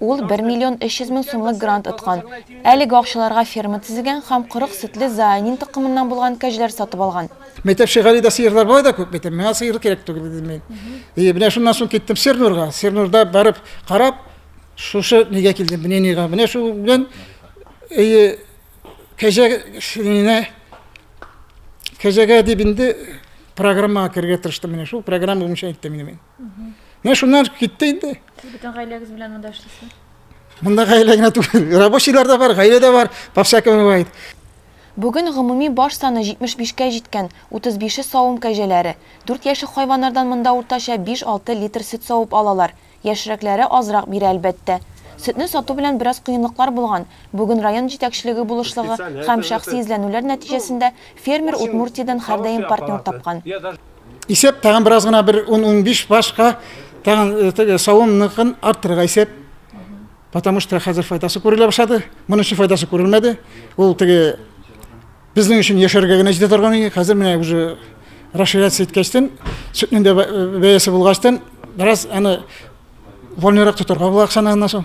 Ул бер миллион өч йөз мең сумлык грант откан. Әлеге акчаларга ферма төзегән һәм корык сөтле Зоанин токымыннан булган кәҗәләр сатып алган. Мәктәп шигарендә сыерлар болай да күп бит, миңа сыер кирәк түгел, дидем мин. И менә шуннан соң киттем Сернурга. Сернурда барып карап, шушы нигә килдем, мнениегә. Менә шул белән и кәҗә шириненә кәҗәгә дип инде программага керергә тырыштым. Менә шул программа буенча әйттем инде мин. Менә шуннан китте инде. Сез бөтен гаиләгез белән монда эшлисезме? Монда гаилә генә түгел, рабочийлар да бар, гаилә дә бар, по всякому бывает. Бүген гомуми баш саны 75 кә җиткән, 35 е савым кәҗәләре. Дүрт яшьлек хайваннардан монда уртача 5-6 литр сөт савып алалар. Яшьрәкләре азрак бирә, әлбәттә. Сөтне сату белән бераз кыенлыклар булган. Бүген район җитәкчелеге булышлыгы һәм шәхси эзләнүләр нәтиҗәсендә фермер Удмуртиядән һәрдаим партнер тапкан. Исәп тагын бераз гына бер 10-15 башка тагын э, теге савымныкын арттырырга исәп. Потому что хәзер файдасы күрелә башлады. Моның өчен файдасы күрелмәде. Ул теге безнең өчен яшәргә генә җитә торган иде. Хәзер менә уже расширяться иткәчтен, сөтнең дә э, бәясе булгачтан, бераз аны вольнырак тотарга була акчаны аннан соң.